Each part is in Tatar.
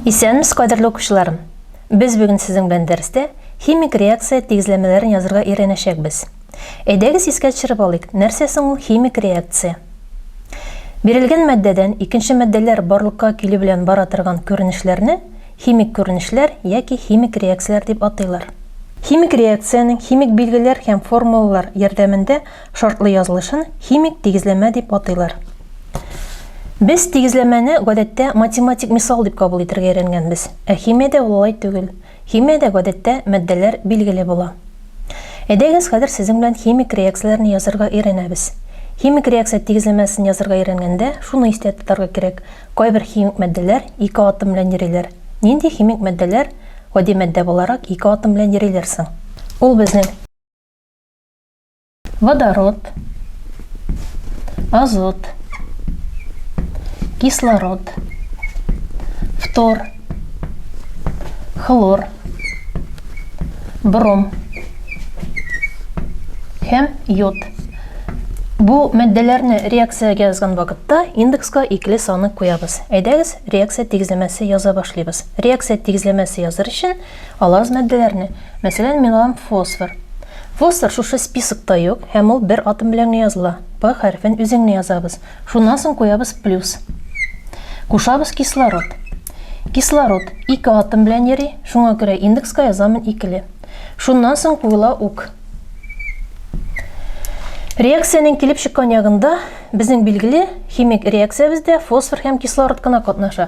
Исәнмез, кадерле укучыларым! Без бүген сезнең белән дәрестә химик реакция тигезләмәләрен язырга өйрәнәчәкбез. Әйдәгез искә төшереп алыйк, нәрсә соң ул химик реакция? Бирелгән матдәдән икенче матдәләр барлыкка килү белән бара торган күренешләрне химик күренешләр яки химик реакцияләр дип атыйлар. Химик реакциянең химик билгеләр һәм формулалар ярдәмендә шартлы язылышын химик тигезләмә дип атыйлар. Без тигезләмәне, гадәттә, математик мисал дип кабул итәргә өйрәнгәнбез, ә химиядә ул алай түгел. Химиядә гадәттә матдәләр билгеле була. Әйдәгез хәзер сезнең белән химик реакцияләрне язарга өйрәнәбез. Химик реакция тигезләмәсен язарга өйрәнгәндә шуны истә тотарга кирәк, кайбер химик матдәләр ике атом белән йөриләр. Нинди химик матдәләр гади матдә буларак ике атом белән йөриләр соң? Ул безнең. Водород, азот, кислород, фтор, хлор, бром һәм йод. Бу мәддәләрне реакциягә язган вакытта индекска икле саны куябыз. Әйдәгез, реакция тигезләмәсе яза башлыйбыз. Реакция тигезләмәсе языр өчен Ала аз матдәләрне, мәсәлән, мин алам фосфор. Фосфор шушы списокта юк, һәм ул бер атом белән генә языла. П хәрефен үзе генә язабыз. Шуннан соң куябыз плюс. Кушабыз кислород. Кислород ике атом белән йөри, шуңа күрә индекска язамын икеле. Шуннан соң куела ук. Реакциянең килеп чыккан ягында безнең билгеле химик реакциябездә фосфор һәм кислород кына катнаша.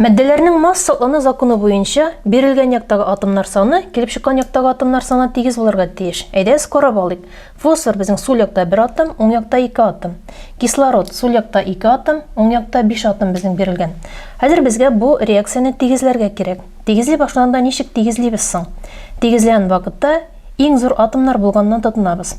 Матдәләрнең масса оны законы буенча бирелгән яктагы атомнар саны килеп чыккан яктагы атомнар саны тигез булырга тиеш. Әйдәгез карап алыйк. Фосфор безнең сул якта бер атом, уң якта ике атом. Кислород сул якта ике атом, уң якта биш атом безнең бирелгән. Хәзер безгә бу реакцияне тигезләргә кирәк. Тигезли башлаганда ничек тигезлибез соң? Тигезләгән вакытта иң зур атомнар булганына тотынабыз.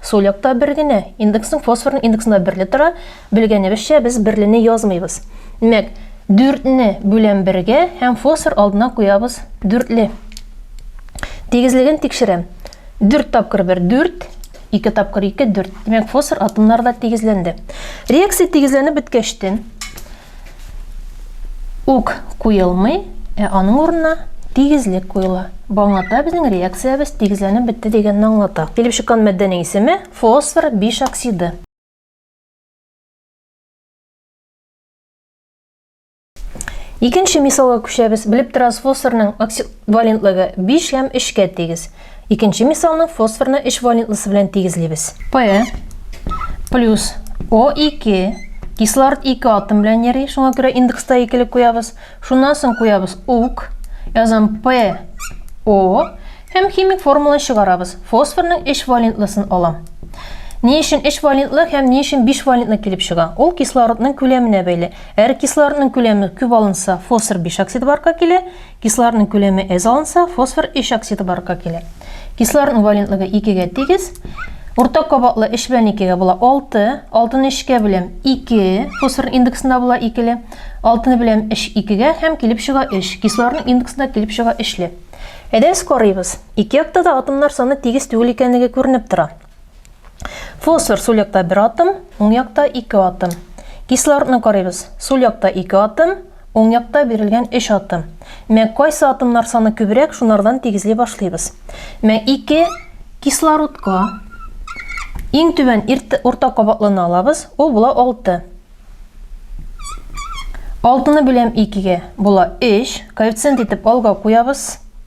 Сул якта бер генә. Индексның фосфорның индексында берле тора. Белгәнебезчә, без берлене язмыйбыз. Димәк, дүртне бүләм бергә һәм фосфор алдына куябыз дүртле. Тигезлеген тикшерәм. Дүрт тапкыр бер, дүрт, ике тапкыр ике, дүрт. Димәк, фосфор атомнары да тигезләнде. Реакция тигезләнеп беткәчтен, Үк куелмый, ә аның урынына тигезлек куела. Бу аңлата безнең реакциябез тигезләнеп бетте дигәнне аңлата. Килеп чыккан матдәнең исеме, фосфор биш оксиды. Икенче мисалга күчәбез. Белеп торабыз, фосфорның оксид валентлыгы 5 һәм 3 кә тигез. Икенче мисалны фосфорны өч валентлысы белән тигезлибез. P плюс O2 кислород 2 атом белән йөри, шуңа күрә индекста икелек куябыз. Шуннан соң куябыз ук, язам P O һәм химик формуланы чыгарабыз. Фосфорның 3 валентлысын алам. Ни өчен 3 валентлы һәм ни өчен 5 валентлы килеп чыга? Ул кислородның күләменә бәйле. Әгәр кислородның күләме күп алынса, фосфор 5 оксид барка килә, Кислородның күләме әз алынса, фосфор өч оксиды барлыкка килә. Кислородның валентлыгы икегә тигез. Уртак кабатлы өч белән икегә була алты. Алтыны өчкә бүләм ике. Фосфорның индексында була икеле. Алтыны беләм өч икегә һәм килеп чыга өч. Кислородның индексында килеп чыга өчле. Әйдәгез карыйбыз. Ике якта да атомнар саны тигез түгел икәнлеге күренеп тора. Фосфор сул якта бер атом, уң якта ике атом. Кислородны карыйбыз. Сул якта ике атом, уң якта бирелгән өч атом. Мә кайсы атомнар саны күбрәк, шунардан тигезли башлыйбыз. Мә ике кислородка иң түбән урта кабатлыны алабыз, ул була алты. Алтыны бүләм икегә, була өч, коэффициент итеп алга куябыз.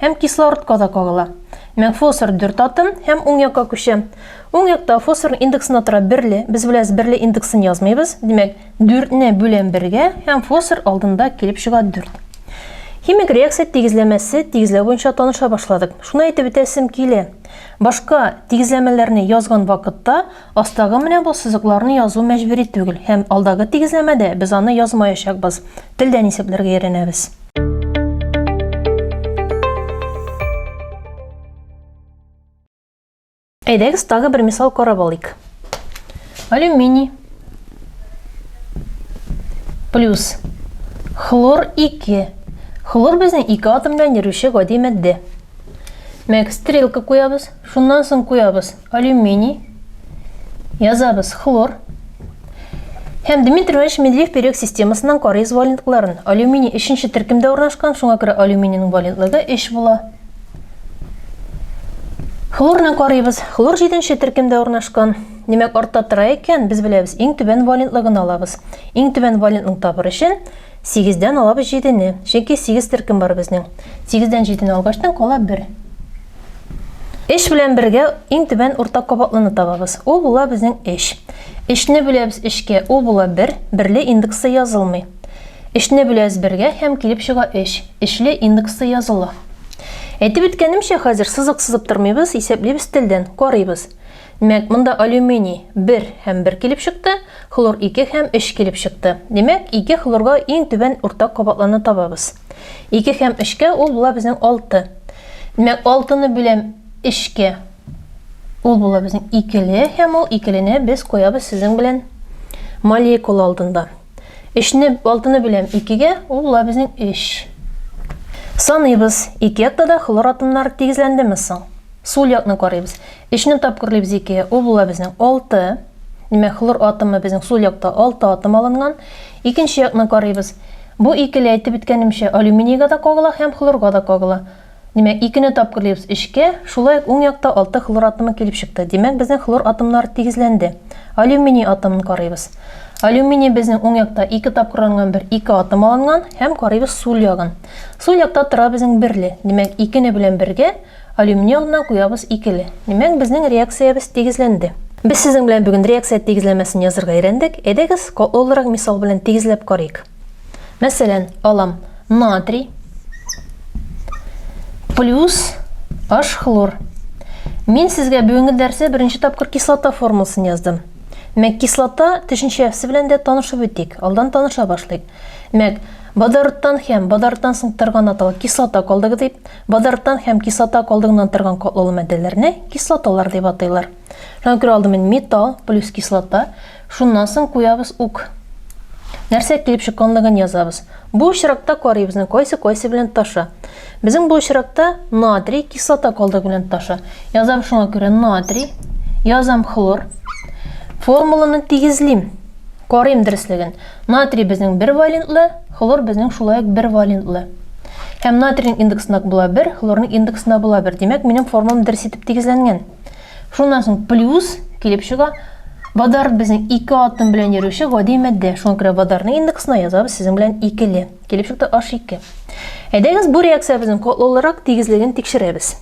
Һәм кислородка да кагыла. Мәк фосфор дүрт атом һәм уң якка күчә. Уң якта фосфорның индексына тора берле. Без беләбез, берле индексын язмыйбыз. Димәк, дүртне бүләм бергә һәм фосфор алдында килеп чыга дүрт. Химик реакция тигезләмәсе тигезләү буенча таныша башладык. Шуны әйтеп үтәсем килә. Башка тигезләмәләрне язган вакытта Астагы менә бу сызыкларны язу мәҗбүри түгел һәм алдагы тигезләмәдә без аны язмаячакбыз, телдән исәпләргә өйрәнәбез. Әйдәгез тагы бер мисал карап алыйк. Алюминий плюс хлор 2. Хлор безнең ике атомдан йөрүче гади матдә. Мәк, стрелка куябыз, шуннан соң куябыз. Алюминий. Язабыз хлор. Һәм Дмитрий Иванович Медведев период системасыннан карыйз валентларын. Алюминий өченче төркемдә урнашкан, шуңа күрә алюминийның валентлыгы 3 була. Хлорны карыйбыз. Хлор җиденче төркемдә урнашкан. Димәк, артта тора икән, без беләбез, иң түбән валентлыгын алабыз. Иң түбән валентлыгын табыр өчен Сигездән алабыз җидене, чөнки сигез төркем бар безнең. Сигездән җидене алгачтан кала бер. Эш белән бергә иң түбән уртак кабатлыны табабыз. Ул була безнең эш. Эшне бүләбез эшкә, ул була бер, берле индексы язылмый. Эшне бүләбез бергә һәм килеп чыга эш. Эшле индексы языла. Әйтеп үткәнемчә, хәзер сызык сызып тормыйбыз, исәплибез телдән, карыйбыз. Димәк, монда алюминий, бер һәм бер килеп чыкты, хлор ике һәм өч килеп чыкты. Димәк, ике хлорга иң түбән уртак кабатларны табабыз. Ике һәм өчкә ул була безнең алты. Димәк, алтыны бүләм өчкә. Ул була безнең икеле һәм ул икелене без куябыз сезнең белән молекула алдында. Өчне, алтыны бүләм икегә, ул була безнең өч. Саныйбыз, ике якта да хлор атомнары тигезләндеме соң? Сул якны карыйбыз. Өчне тапкыр Лебзике, ул була безнең алты. Димәк, хлор атомы безнең сул якта алты атом алынган. Икенче якны карыйбыз. Бу икеле, әйтеп үткәнемчә, алюминийга да кагыла һәм хлорга да кагыла. Димәк, икене тапкырлыйбыз өчкә, шулай ук уң якта алты хлор атомы килеп чыкты. Димәк, безнең хлор атомнары тигезләнде. Алюминий атомын карыйбыз. Алюминий безнең уң якта ике тапкырланган бер ике атом алынган һәм карыйбыз сул ягын. Сул якта тора безнең берле. Димәк, икене белән бергә, Алюминиумнан куябыз икеле. Димәк, безнең реакциябез тигезләнде. Без сезнең белән бүген реакция тигезләмәсен язырга өйрәндек. Әйдәгез, катлаулырак мисал белән тигезләп карыйк. Мәсәлән, алам натрий плюс H хлор. Мин сезгә бүгенге дәрсе беренче тапкыр кислота формуласын яздым. Мәк кислота төшенчәсе белән дә танышып үтик. Алдан таныша башлыйк. Мәк водородтан һәм водородтан соң торган аталы кислота калдыгы дип, Базарттан һәм кислота калдыгыннан торган катлаулы матдәләрне кислоталар дип атыйлар. Шуңа күрә алдымен металл плюс кислота, шуннан соң куябыз ук. Нәрсә килеп чыкканлыгын язабыз. Бу очракта карыйбызны кайсы кайсы белән таша. Безнең бу очракта натрий кислота калдыгы белән таша. Язам шуңа күрә натрий, язам хлор. Формуланы тигезлим. Карыйм дөреслеген. Натрий безнең бер валентлы, хлор безнең шулай ук бер валентлы. Һәм натрийның индекс нак була бер, хлорның индекс на була бер. Димәк, минем формам дөрес итеп тигезләнгән. Шуннан соң плюс килеп чыга. Водород безнең ике атом белән йөрүче гади матдә. Шуңа күрә водородның индексына язабыз сезнең белән икеле. Килеп чыкты H2. Әйдәгез бу реакциябезнең катлаулырак тигезлеген тикшерәбез.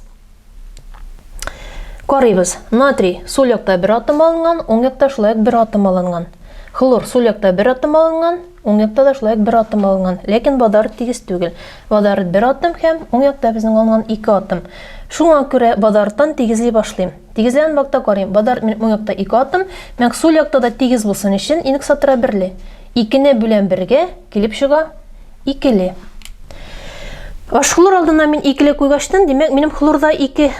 Карыйбыз. Натрий сул якта бер атом алынган, уң якта шулай ук бер атом алынган. Хлор сул якта бер атом алынган, уң якта да шулай ук бер атом алынган. Ләкин водород тигез түгел. Водород бер атом һәм уң якта безнең алынган ике атом. Шуңа күрә водородтан тигезли башлыйм. Тигезләгән вакытта карыйм, водород минем уң якта ике атом, мәк сул якта да тигез булсын өчен инксатора берле. Икене бүләм бергә, Килеп чыга, икеле. Аш хлор алдына мин икеле куйгачтын, димәк, минем хлорда ике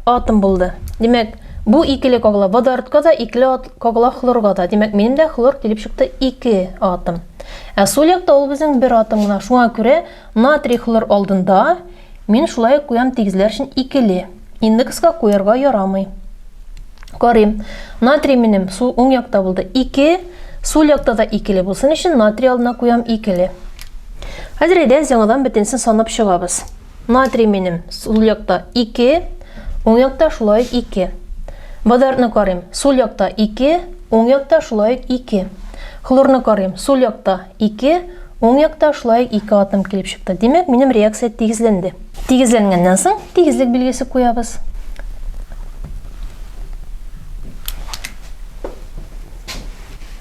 атом булды. Димәк, бу икеле когла водородка да, икеле когла хлорга да. Димәк, минем дә хлор килеп чыкты ике атом. Ә сул якта ул безнең бер атом гына. Шуңа күрә натрий хлор алдында Мин шулай ук куям тигезләр өчен икеле. Индекска куярга ярамый. Карыйм. Натрий минем сул уң якта булды. Ике. Сул якта да икеле булсын өчен натрий алдына куям икеле. Хәзер әйдәгез яңадан бөтенесен санап чыгабыз. Натрий минем сул якта ике. Уң якта шулай ук ике. Водородны карыйм. Сул якта ике. Уң якта шулай ук ике. Хлорны карыйм. Сул якта Ике, уң якта шулай ук ике атом килеп чыкты. Димәк, минем реакция тигезләнде. Тигезләнгәннән соң, тигезлек билгесе куябыз.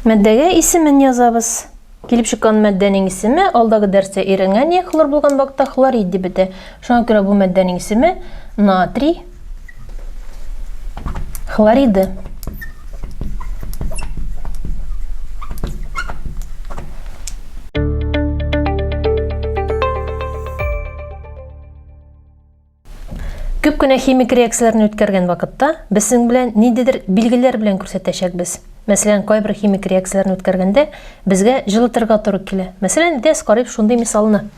Матдәгә исемен язабыз. Килеп чыккан матдәнең исеме, алдагы дәрестә өйрәнгән, йә хлор булган вакытта хлорид дип бетә. Шуңа күрә бу матдәнең исеме натрий хлориды. Күп кенә химик реакцияләрне үткәргән вакытта без синең белән ниндидер билгеләр белән күрсәтәчәкбез. Мәсәлән, кайбер химик реакцияләрне үткәргәндә безгә җылытырга туры килә. Мәсәлән, дә карыйк шундый мисалны.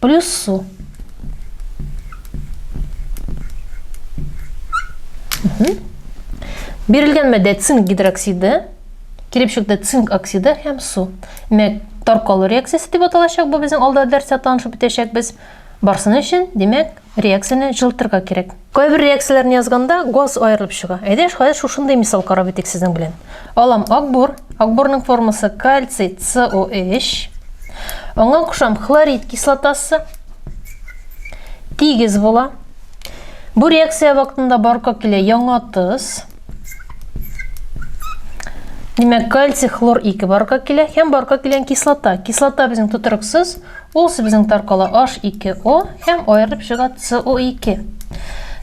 Плюс су. Бирелгән мәдә цинк гидроксиды, кирепшекте цинк оксиды һәм су. Мәк таркалу реакциясе дип аталачак, бу безнең алда дәрсә танышып үтәчәкбез. Барсын өчен, димәк, Реакцияне җылытырга кирәк. Кайбер реакцияләрне язганда газ аерылып чыга. Әйдә, хәзер шушындый мисал карап үтик сезнең белән. Алам акбур. Акбурның формасы кальций СО3. Аңа кушам хлорид кислотасы. Тигез була. Бу реакция вакытында барка килә яңа тоз. Димәк, кальций хлор 2 барга килә һәм барга килгән кислота. Кислота безнең тотрыксыз, ул безнең таркала H2O һәм аерылып чыга CO2.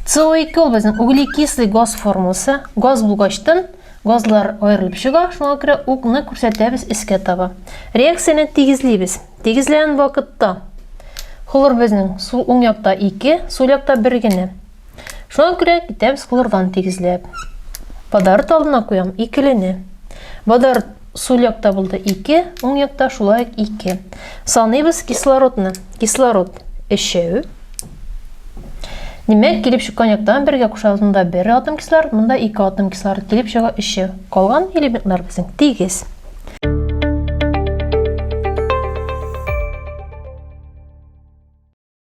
CO2 ул безнең углекислый газ формасы. Газ булгачтан газлар аерылып чыга, шуңа күрә укны күрсәтәбез эскә таба. Реакцияне тигезлибез. Тигезләгән вакытта хлор безнең сул уң якта 2, сул якта 1 генә. Шуңа күрә китәбез кулырдан тигезләп. Бадарыт алдына куям икелене. Бадарыт сул якта булды 2, уң якта шулай ук 2. Саныйбыз кислородны. Кислород 3. Димәк, килеп чыккан яктан бергә кушабыз. Монда 1 атом кислород, монда 2 атом кислород килеп чыга 3. Калган элементлар безнең тигез.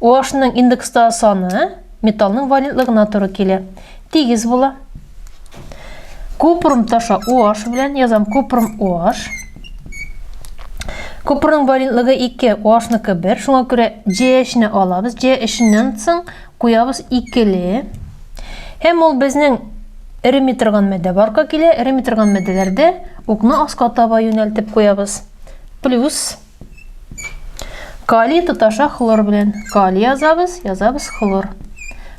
OH-ның индекстагы саны металлның валентлыгына туры килә. Тигез була. Купрум таша OH белән язам купрум OH. Купрумның валентлыгы 2, OH-ныкы 1. Шуңа күрә JH-ны алабыз. JH-ннән соң куябыз 2-ле. Һәм ул безнең эреми торган матдә барка килә. Эреми торган матдәләрдә укны аска таба юнәлтеп куябыз. Плюс Калий тоташа хлор белән. Калий язабыз, язабыз хлор.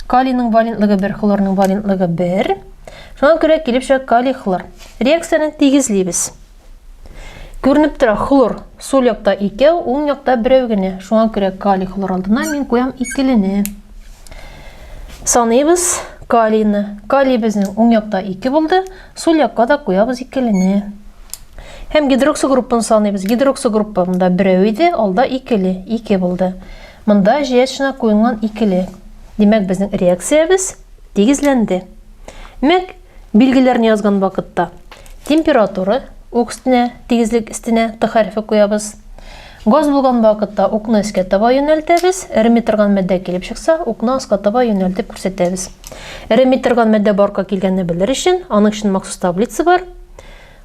Калийның валентлыгы 1, хлорның валентлыгы 1. Шуңа күрә килеп чыга калий хлор. Реакцияне тигезлибез. Күренеп тора хлор сул якта икәү, уң якта берәү генә. Шуңа күрә калий хлор алдына мин куям икелене. Саныйбыз калийны. Калий безнең уң якта 2 булды. Сул якка да куябыз икелене. Һәм гидроксогруппаны саныйбыз. Гидроксогруппа монда берәү иде, алда икеле, ике булды. Монда җыячына куелган икеле. Димәк, безнең реакциябез тигезләнде. Мәк, билгеләрне язган вакытта температура үк өстенә, тигезлек өстенә Т хәрефе куябыз. Газ булган вакытта укны өскә таба юнәлтәбез, эреми торган матдә килеп чыкса, укны аска таба юнәлтеп күрсәтәбез. Эреми торган матдә барка килгәнне белер өчен, аның өчен махсус таблица бар.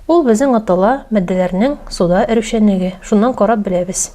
Ул безнең атала матдәләрнең суда эрүчәнлеге, шуннан карап беләбез.